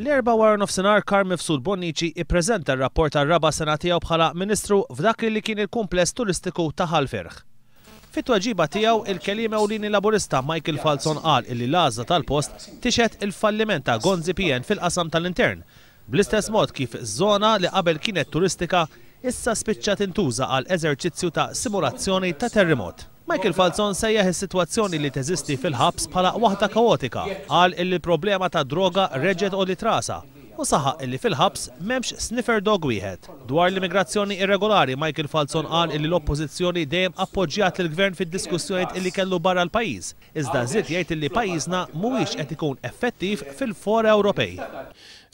L-Erbgħa waranofsinhar Karm Mifsud Bonnici ippreżenta r-rapport għar-raba' sena tiegħu bħala Ministru f'dak li li kien il-kumpless turistiku ta' Ħal Ferħ. Fit-tweġiba tiegħu, il-Keliem Ewlieni Laburista Michael Falzon qal illi l-għażla tal-post tixhed il-falliment ta' Gonzi PN fil-qasam tal-intern Bl-istess mod kif żona li qabel kienet turistika issa spiċċa tintuża għal eżerċizzju ta' simulazzjoni ta' terrimot. Michael Falzon sejjaħ is-sitwazzjoni li teżisti fil-ħabs bħala waħda kaotika, qal illi l-problema tad-droga reġgħet għolliet rasha u saħaq illi fil-ħabs m'hemmx sniffer dog wieħed. Dwar l-immigrazzjoni irregolari, Michael Falzon qal illi l-Oppożizzjoni dejjem appoġġjat lill-Gvern fid-diskussjonijiet illi kellu barra l-pajjiż, iżda żied jgħid li pajjiżna mhuwiex qed ikun effettiv fil-fora Ewropej.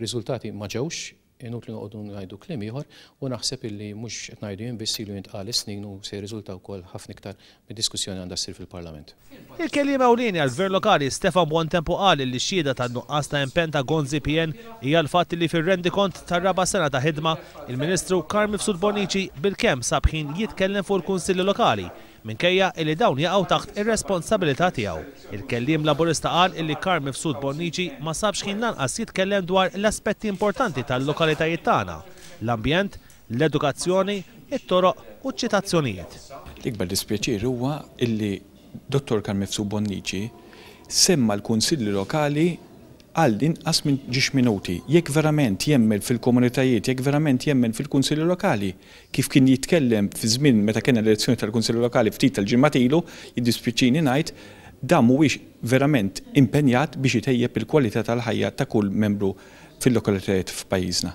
Riżultati ma ġewx, inutli noqogħdu ngħidu kliem ieħor u naħseb illi mhux qed ngħidu jien biss ilu jintqal is-snin u se jirriżulta wkoll ħafna iktar mid-diskussjoni li għandha ssir fil-Parlament. Il-Kelliem Ewlieni għall-Gvern Lokali Stefan Buontempo qal li xhieda tan-nuqqas ta' impenn ta' Gonzi PN hija l-fatt li fir-rendikont tar-raba' sena ta' ħidma, il-Ministru Karl Mifsud Bonnici bilkemm sab ħin jitkellem fuq il-Kunsilli Lokali minkejja illi dawn jaqgħu taħt ir-responsabilità tiegħu. Il-Kelliem Laburista qal illi Karl Mifsud Bonnici ma sabx ħin lanqas jitkellem dwar l-aspetti importanti tal-lokalitajiet tagħna, l-ambjent, l-edukazzjoni, it-toroq u ċ-ċitazzjonijiet. L-ikbar dispjaċir huwa illi Dottor Karl Mifsud Bonnici semma l-Kunsilli Lokali għal inqas minn ġiex minuti. Jekk verament jemmen fil-komunitajiet, jekk verament jemmen fil-Kunsilli Lokali, Kif kien jitkellem fi żmien meta kellna l-elezzjoni tal-Kunsilli Lokali ftit tal-ġimgħat ilu, jiddispjaċini ngħid, dan mhuwiex verament impenjat biex itejjeb il-kwalità tal-ħajja ta' kull membru fil-lokalitajiet f'pajjiżna.